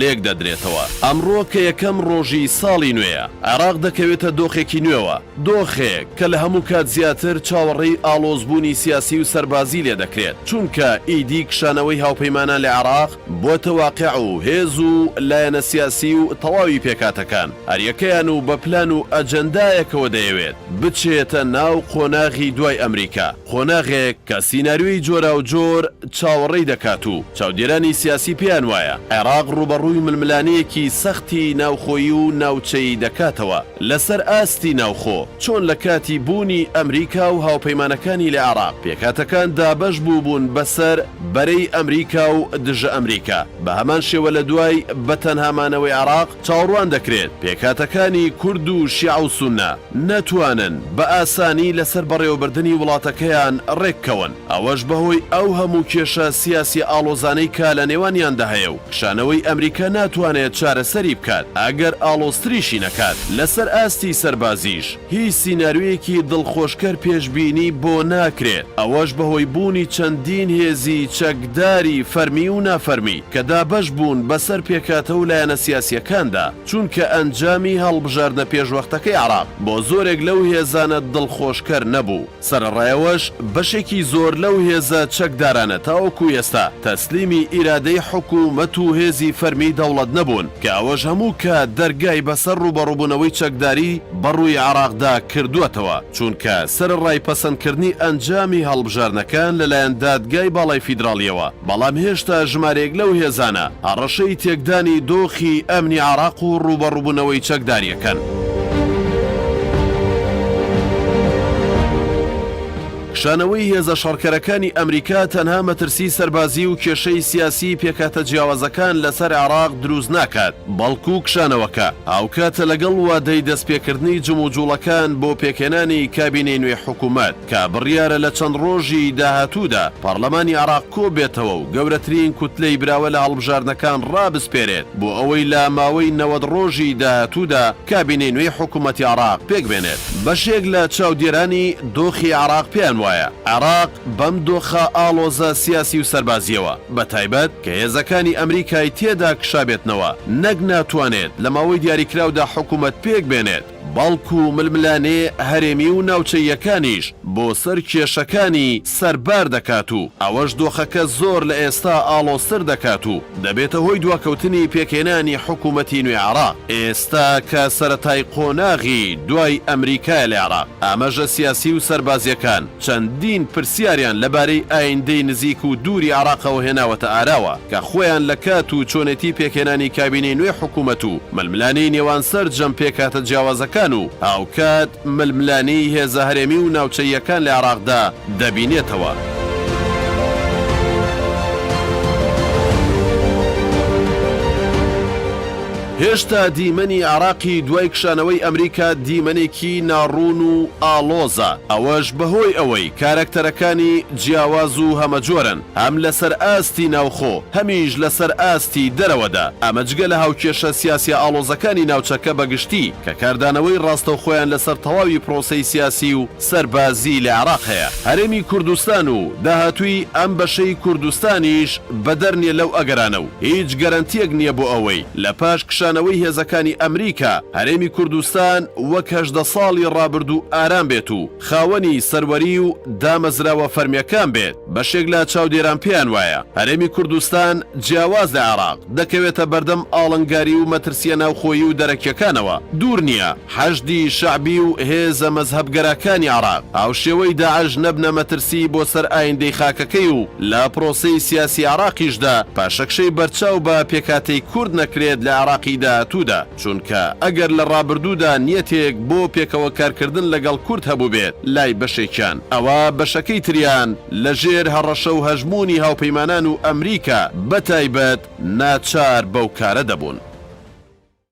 لێکدەدرێتەوە. ئەمڕۆ کە یەکەم ڕۆژی ساڵی نوێیە، عێراق دەکەوێتە دۆخێکی نوێوە، دۆخێک کە لە هەموو کات زیاتر چاوەڕێی ئاڵۆزبوونی سیاسی و سەربازی لێ دەکرێت، چونکە ئیدی کشانەوەی هاوپەیمانان لە عێراق بووەتە واقع و هێز و لایەنە سیاسی و تەواوی پێکهاتەکان هەریەکەیان و بە پلان و ئەجەندایەکەوە دەیەوێت بچێتە ناو قۆناغی دوای ئەمریکا. قۆناغێک کە سیناریۆی جۆراوجۆر چاوەڕێی دەکات و چاودێرانی سیاسی پێیان وایە عێراق ڕووبەڕووی ململانێیەکی سەختی ناوخۆیی و ناوچەیی دەکاتەوە لەسەر ئاستی ناوخۆ، چۆن لە کاتی بوونی ئەمریکا و هاوپەیمانەکانی لە عێراق پێکهاتەکان دابەش بووبوون بەسەر بەرەی ئەمریکا و دژە ئەمریکا، بە هەمان شێوە لە دوای بە تەنها مانەوەی عێراق، چاوەڕوان دەکرێت پێکهاتەکانی کورد و شیعە و سوننە نەتوانن بە ئاسانی لەسەر بەڕێوەبردنی وڵاتەکەیان ڕێککەون، ئەوەش بەهۆی ئەو هەموو کێشە سیاسیە ئاڵۆزانەی کە لە نێوانیاندا هەیە و کشانەوەی ئەمریکا ناتوانێت چارەسەری بکات، ئەگەر ئاڵۆزتریشی نەکات. لەسەر ئاستی سەربازیش هیچ سیناریۆیەکی دڵخۆشکەر پێشبینی بۆ ناکرێت، ئەوەش بەهۆی بوونی چەندین هێزی چەکداری فەرمی و نافەرمی، کە دابەش بوون بەسەر پێکهاتە و لایەنە سیاسییەکاندا، چونکە ئەنجامی هەڵبژاردە پێشوەختەکەی عێراق بۆ زۆرێک لەو هێزانە دڵخۆشکەر نەبوو، سەرەڕایەوەش بەشێکی زۆر لەو هێزە چەکدارانە تاوەکو ئێستا تەسلیمی ئیرادەی حکوومەت و هێزی فەرمیی دەوڵەت نەبوون، کە ئەوەش هەموو کات دەرگای بەسەر ڕووبەڕووبوونەوەی چەکداری بەڕووی عێراقدا کردووەتەوە، چونکە سەرەڕای پەسەندکردنی ئەنجامی هەڵبژاردنەکان لەلایەن دادگای باڵای فیدراڵییەوە، بەڵام هێشتا ژمارێک لەو هێزانە هەڕەشەی تێکدانی دۆخی ئەمنی عێراق و ڕووبەڕووبوونەوەی چەکدارییەکەن. کشانەوەی هێزە شەڕکەرەکانی ئەمریکا تەنها مەترسیی سەربازی و کێشەی سیاسیی پێکهاتە جیاوازەکان لەسەر عێراق دروست ناکات، بەڵکو کشانەوەکە هاوکاتە لەگەڵ وادەی دەستپێکردنی جموجوڵەکان بۆ پێکهێنانی کابینەی نوێی حکومەت. کە بڕیارە لە چەند ڕۆژی داهاتوودا پارلەمانی عێراق کۆببێتەوە و گەورەترین کوتلەی براوە لە هەڵبژاردنەکان ڕابسپێرێت بۆ ئەوەی لە ماوەی نەوەد ڕۆژی داهاتوودا کابینەی نوێی حکومەتی عێراق پێکبێنێت. بەشێک لە چاودێرانی دۆخی عێراق پێیان وایە، عێراق بەم دۆخە ئاڵۆزە سیاسی و سەربازییەوە، بە تایبەت کە هێزەکانی ئەمریکای تێدا کشابێتنەوە، نەک ناتوانێت لە ماوەی دیاریکراودا حکومەت پێکبێنێت، بەڵکو ململانێ هەرێمی و ناوچەییەکانیش بۆ سەر کێشەکانی سەر بار دەکات و ئەوەش دۆخەکە زۆر لە ئێستا ئاڵۆزتر دەکات و دەبێتە هۆی دواکەوتنی پێکهێنانی حکوومەتی نوێ عێراق ئێستا کە سەرەتای قۆناغی دوای ئەمریکایە لە عێراق ئامەژە سیاسی و سەربازییەکان چەندین پرسیاریان لەبارەی ئایندەی نزیک و دووری عێراقەوە هێناوەتە ئاراوە، کە خۆیان لە کات و چۆنێتی پێکهێنانی کابینەی نوێی حکوومەت و ململانێی نێوان سەرجەم پێکهاتە جیاوازەکان و هاوکات ململانێی هێزە هەرێمی و ناوچەییەکان لە عێراقدا دەبینێتەوە. هێشتا دیمەنی عێراقی دوای کشانەوەی ئەمریکا دیمەنێکی ناڕوون و ئاڵۆزە، ئەوەش بەهۆی ئەوەی کارەکتەرەکانی جیاواز و هەمەجۆرن، هەم لەسەر ئاستی ناوخۆ، هەمیش لەسەر ئاستی دەرەوەدا، ئەمە جگە لە هاوکێشە سیاسیە ئاڵۆزەکانی ناوچەکە بەگشتی، کە کاردانەوەی ڕاستەوخۆیان لەسەر تەواوی پرۆسەی سیاسی و. سەربازی لە عێراق هەیە هەرێمی کوردستان و داهاتووی ئەم بەشەی کوردستانیش بەدەر نیە لەو ئەگەرانە و هیچ گەرەنتیەک نیە بۆ ئەوەی لە پاش کشانەوەی هێزەکانی ئەمریکا هەرێمی کوردستان وەک هەژدە ساڵی ڕابردوو ئارام بێت و خاوەنی سەروەری و دامەزراوە فەرمیەکان بێت بەشێک لە چاودێران پێیان وایە هەرێمی کوردستان جیاواز لە عێراق دەکەوێتە بەردەم ئاڵنگاری و مەترسیە ناوخۆیی و دەرەکیەکانەوە دوور نیە حەشدی شەعبی و هێزە مەزهەبگەراکانی عێراق هاوشێوەی داعش نەبنە مەترسیی بۆ سەر ئایندەی خاکەکەی و لە پرۆسەی سیاسی عێراقیشدا پاشەکشەی بەرچاو بە پێکهاتەی کورد نەکرێت لە عێراقی داهاتوودا، چونکە ئەگەر لە ڕابردوودا نیەتێک بۆ پێکەوە کارکردن لەگەڵ کورد هەبووبێت لای بەشێکیان، ئەوا بەشەکەی تریان لە ژێر هەڕەشە و هەژموونی هاوپەیمانان و ئەمریکا بەتایبەت ناچار بەو کارە دەبوون.